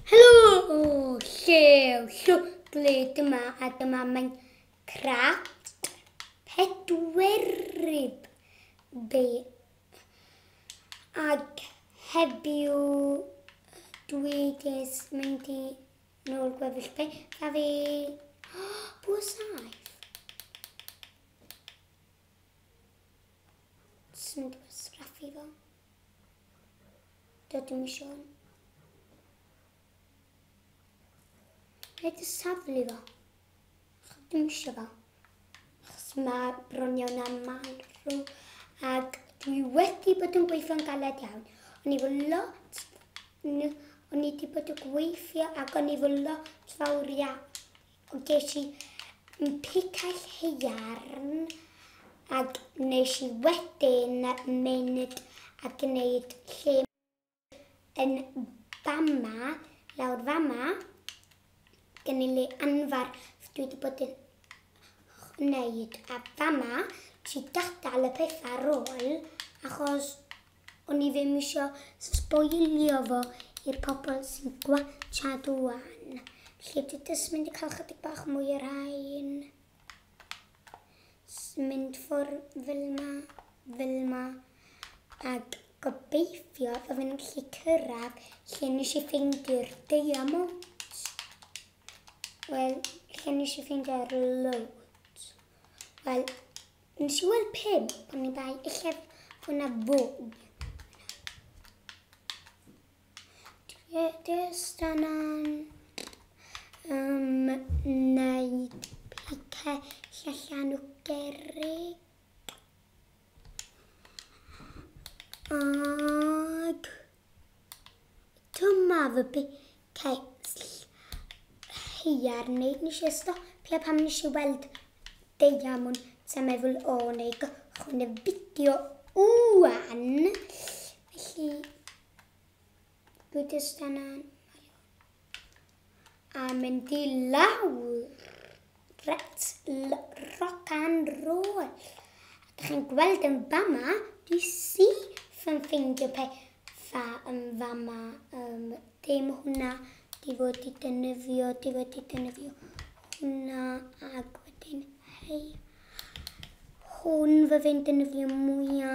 Helo! Llew, llwglyd yma a dyma mae'n craft pedweryb be. Ac heddiw dwi ges mynd i nôl gwefus be. Da fi... Oh, bwa saif. Swn i'n dweud sgraffu fo. Dydw i eisiau hwn. Rhaid y saflu fo. Chod dim eisiau fo. Achos mae bron iawn am marw. Ac dwi wedi bod yn gweithio'n galed iawn. O'n i fo lot... O'n i wedi bod yn gweithio ac o'n i fo lot fawr iawn. Ond ges i mpicaill haearn ac nes i wedyn mynd a gwneud lle yn fama, lawr fama, gen i le anfarth dwi wedi bod yn wneud a fama, nes i gadael y pethau ar ôl achos O'n i ddim isio sboilio fo i'r pobl sy'n gwatshad ŵan. Felly dwi jyst mynd i cael chydig bach mwy o rain. Mynd ffwr fel ma, fel ma. Ac gobeithio fy fi'n gallu cyrraedd lle nes i ffeindio'r diamonds. Wel, lle nes i ffeindio'r loads. Wel, Nes i weld pum pan ni ddau eisiau fwy na fwy. Dys dan yn ymwneud beicio llysiau nhw gerig. Ag... Dyma fy bicell haearn i. Nes i stopio pam nes i weld deiamwn. Ti'n meddwl o neu gychwyn y fideo ŵan. Felly, bwyd ystan an. A mynd i lawr. Reit, rock and roll. A dych chi'n gweld yn fama, dwi syth yn ffeindio pethau yn fama. Um, dim hwnna, di fod i dynyddio, di fod i dynyddio hwnna, ac wedyn, hei, Hwn fe fe'n defnyddio mwya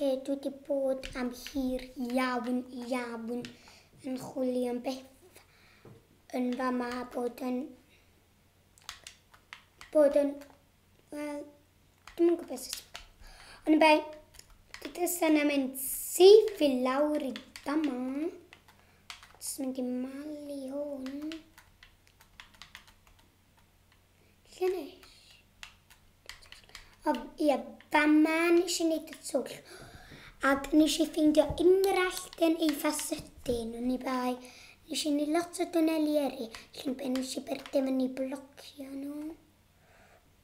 lle dwi wedi bod am hir iawn, iawn yn chwilio am beth yn fa ma bod yn... bod yn... wel, dim yn gwybod sut... Ond bai, dydy sy'n am mynd syth i lawr i fa ma. Jyst mynd i malu hwn. Lle neis. Ond ie, fama nes i wneud y twll. Ac nes i ffeindio ungrallt yn eitha sydyn, oni bai. Nes i wneud lot o dwneli yrru, felly be nes i byrddau fyny i blocio nhw.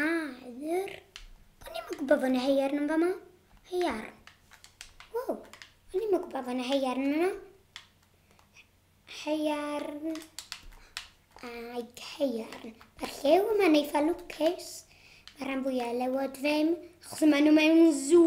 Aer. O'n i'm yn gwybod fod yna heiarn yn fama. Heiarn. Wow, o'n i'm yn gwybod fod yna heiarn yna. Heiarn. Ai, heiarn. Mae'r llew yma'n eitha lwcus. Mae'r rhan fwyaf lewod ddim, achos maen nhw mewn sŵ.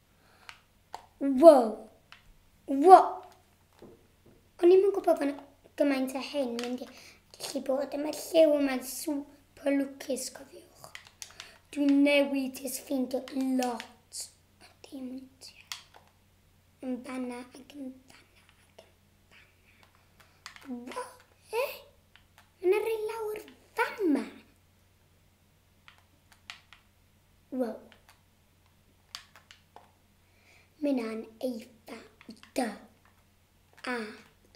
Wow! Wow! O'n i'm yn gwybod bod gymaint o hyn mynd i gallu bod yn y lliw yma'n super lwcus, cofiwch. Dwi'n newid ys ffeindio lot o diamantiau. Yn fanna ac yn fanna ac yn fanna. Wow! Minan eitha i dy. A,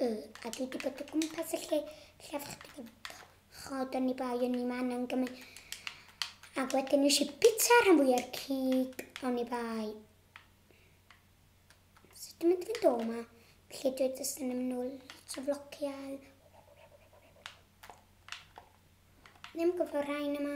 y, a dwi di bod o gwmpas y lle llaf chdig o chod o'n i bai o'n i man yn gymryd. Ac wedyn nes i bita rhan fwya'r cig o'n i bai. So dwi'n mynd i fynd o yma, felly dwi jyst yn ymwneud lot o flogiau. Ddim gyfo rhain yma.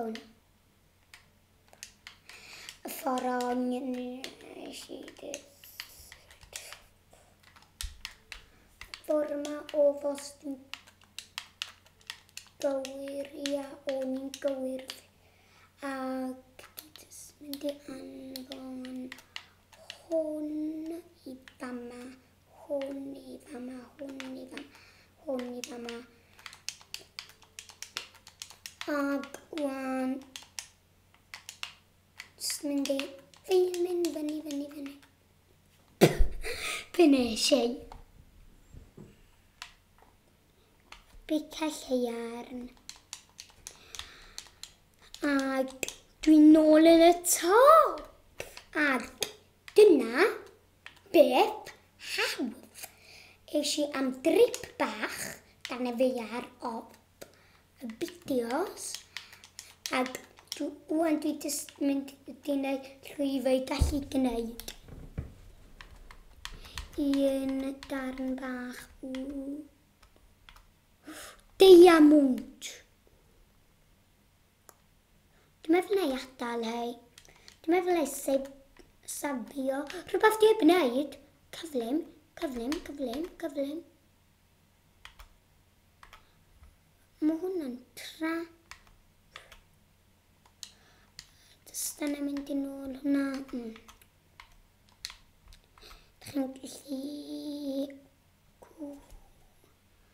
Own. Y ffordd o'n nes i Ffordd yma o fost yn gywir, ia, o'n i'n gywir. Ac mynd i anfon hwn i bama. Hwn i fama, hwn i fama, hwn i fama. Ag wan. Just mynd i... Fi'n mynd fyny, fyny, fyny. Be nes i? Bica lleiarn. Ag dwi'n nôl yn y top. Ag dyna Beth hawdd! Es i am drip bach gan y Faear op y fideos ac rwan dwi jyst mynd i wneud llwyfau gallu gwneud un darn bach o deiamwnt. Dwi'n meddwl na i atal hei. Dwi'n meddwl na i seb, sabio. Rhywbeth dwi'n gwneud. Cyflym, cyflym, cyflym, cyflym. Mae hwnna'n tra. Just yna mynd i'n ôl hwnna. Mm. Dych chi'n gallu...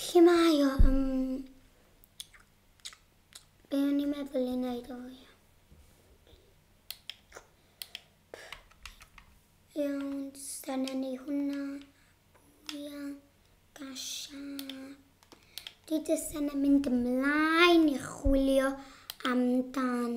Lle mae o? Um, be o'n i'n meddwl i wneud o? Iawn, dyna ni hwnna. Ia, gasha. Dwi jyst yn mynd ymlaen i chwilio amdan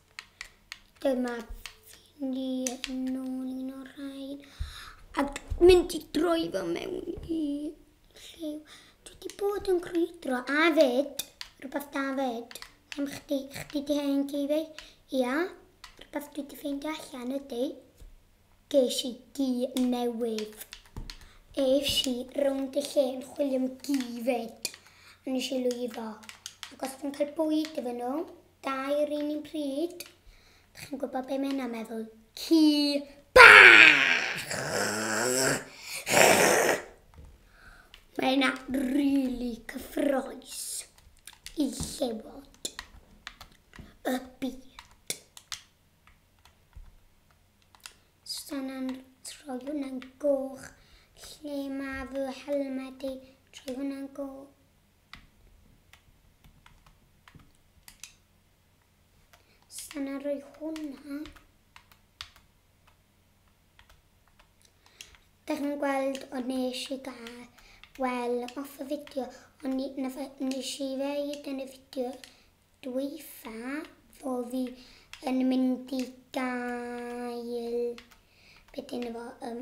Dyma fi ni nôl un o'r rhain. Ac mynd i droi fo mewn i lliw. Dwi wedi bod yn crwydro a fyd. Rhywbeth da fyd. Am chdi, chdi di hen ci fi. Ia, rhywbeth dwi wedi ffeindio allan ydy. Geis i gi newydd. Eif si rownd y lle yn chwilio am gi fyd. A nes i lwyddo. Ac os dwi'n cael bwyd efo nhw, Dau yr un un pryd. Dych chi'n gwybod be mae'n meddwl? Ci bach! Mae yna really cyffroes i llewod y byd. Stannan troi hwnna'n goch lle mae fy helmed i troi hwnna'n goch. Sa'n a rhoi hwnna. Da chi'n gweld o nes i gael wel off y fideo, ond ni, nes i ddeud yn y fideo dwyfa fo fi yn mynd i gael beth yn efo um,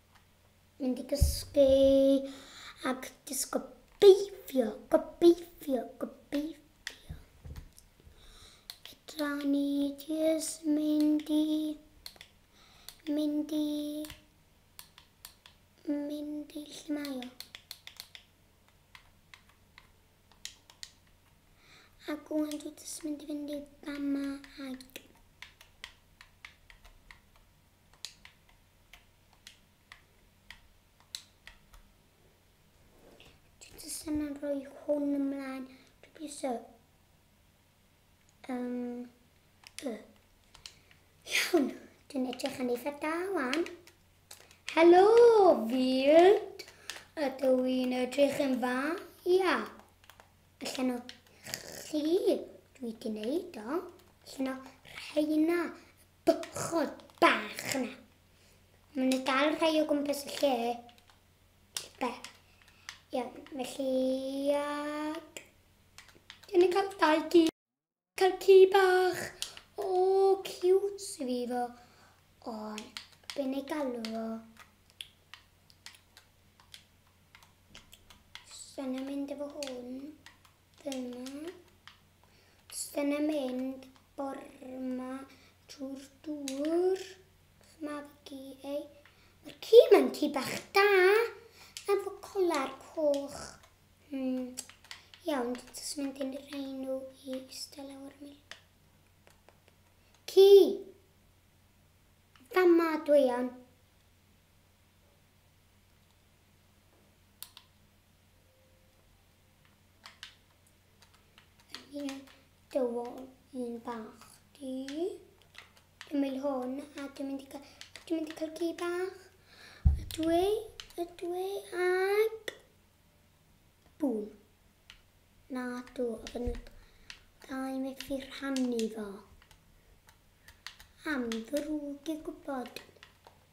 Mynd i gysgu ac jyst gobeithio, gobeithio, gobeithio. Fedra ni jyst mynd i, mynd i, mynd i lle mae o. a gwn dwi jyst mynd i fynd i fama ac Jyst yn rhoi hwn ymlaen, dwi'n piso. Um, y. Iawn, dwi'n edrych yn eitha da wan. Helo, field. Ydw i'n edrych yn dda? Ia. Allan o chi, dwi wedi neud o. Allan o rheina, Bwchod bach yna. Mae yna dal rhai o gwmpas y lle. Be? Iawn, felly... Ac... Dwi'n ei cael dau gi. Cael ci bach. O, cute sydd fi fo. O, dwi'n ei galw fo. Sa'n mynd efo hwn. Dyna. Dyna mynd borma trwy'r dŵr. Magu ei. Mae'r ci mae'n ci bach da. Efo colar coch. Hmm. Iawn, jyst mynd i'n rhaenw i ystod lawr mi. Ci! Fama dwi iawn. Ie, dywol, un bach. Di. Ymwyl hwn, a dwi'n mynd i cael, dwi'n mynd i cael gi bach. Y dwi, y dwi, ag... Bŵm. Na, dw, a fy nhw... Da i mi fi rhannu fo. Am ddrwg i gwybod.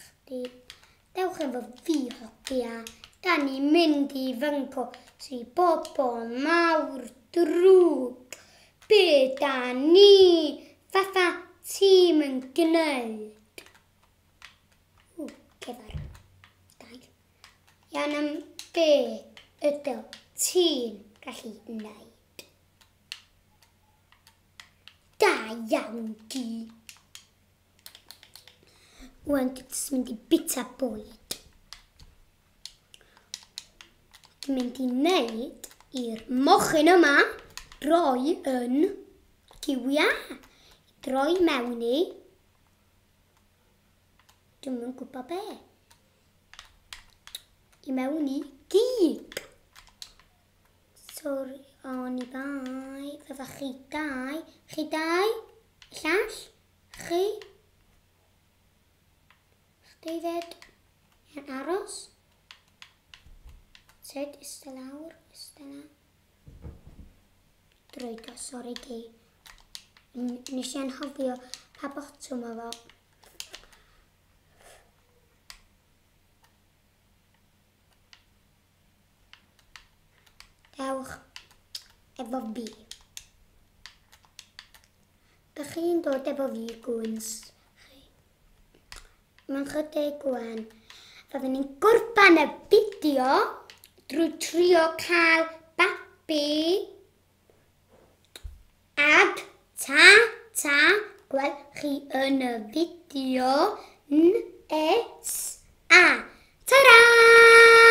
chdi. Dewch efo fi hogia, da ni mynd i fy ngpo si bobol mawr drwg. Be da ni fatha tîm yn gneud? Ww, cefar. Da ni. Iawn am be ydw ti'n gallu wneud? Da iawn di. Wan, dwi jyst mynd i bita bwyd. Dwi'n mynd i wneud i'r mochyn yma droi yn giwia. Droi mewn i. Dwi'n mynd gwybod be. I mewn i gig. Sorry, oni bai. Fyddwch chi dau. Chi dau. Llall. Chi? David yn aros. Sut ista lawr, ista lawr. Drwydo, sori di. Nes i anhofio pa botwm o fo. Dewch efo fi. Dych chi'n dod efo fi, gwns. Mae'n chydig gwan. Roedden ni'n gorfan y fideo drwy trio cael babi. Ag ta, ta, gweld chi yn y fideo nes. A, ta-ra!